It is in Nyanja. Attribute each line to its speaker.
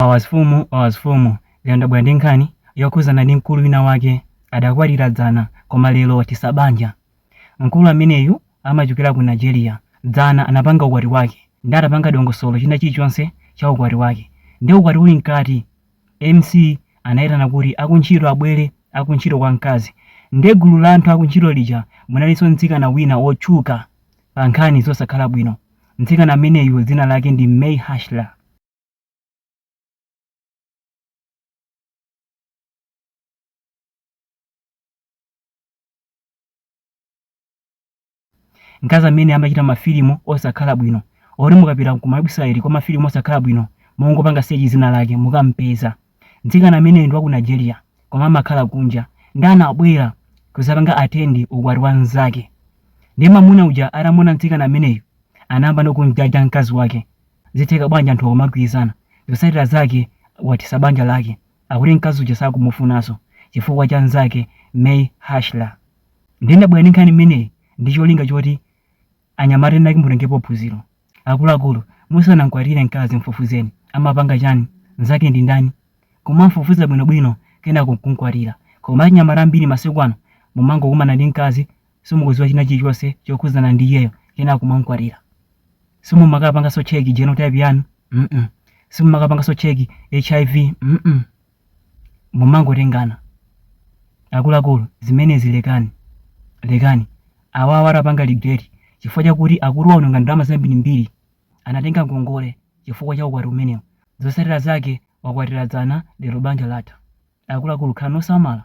Speaker 1: Wawasfumu Wawasfumu Lero ndabwera ndi nkhani yokhuzana ndi mkulu wina wake adakwatira dzana koma lero wathesa banja. Mkulu ameneyu amachokera ku Nigeria. Dzana anapanga ukwati wake nde atapanga dongosolo china chilichonse cha ukwati wake nde ukwati uli mkati MC anaitana kuti akuntchito abwere akuntchito kwa mkazi nde gulu la anthu akuntchito lija munalinso mtsikana wina wotchuka pa nkhani zosakhala bwino. Mtsikana ameneyu dzina lake ndi May Hashler. mkazi ameneyu amachita mafilimu osakhala bwino oti mukapita ku mawebsite kwa mafilimu osakhala bwino mungopanga search dzina lake mukampeza mtsikana ameneyu ndi wa ku nigeria koma amakhala kunja nde anabwera kuzapanga attend ukwati wa mnzake ndiye mamuna uja atamuona mtsikana ameneyu anayamba nokumjaja mkazi wake zitheka bwanji anthu akumagwirizana zotsatira zake wathesa banja lake akuti mkazi uja sakumufunanso chifukwa cha mnzake may hashler nde ndabwera ndi nkhani imeneyi ndi cholinga choti anyamata ena mutengepo phunziro akuluakulu musanamkwatire mkazi mfufuzeni amapanga chani mnzake ndi ndani kumamfufuza bwinobwino kenako kumkwatira koma anyamata ambiri masiku ano mumangokumana ndi mkazi simukudziwa china chilichonse chokhudzana ndi iyeyo kenako kumamkwatira simumakapanganso check genotype yanu mm simumakapanganso check HIV mm mumangotengana akuluakulu zimenezi lekani lekani awawa atapanga regret chifukwa chakuti akulu aononga ndalama zambirimbiri anatenga ngongole chifukwa cha ukwati umenewu zotsatira zake wakwatira dzana lero banja latha akuluakulu khalani osamala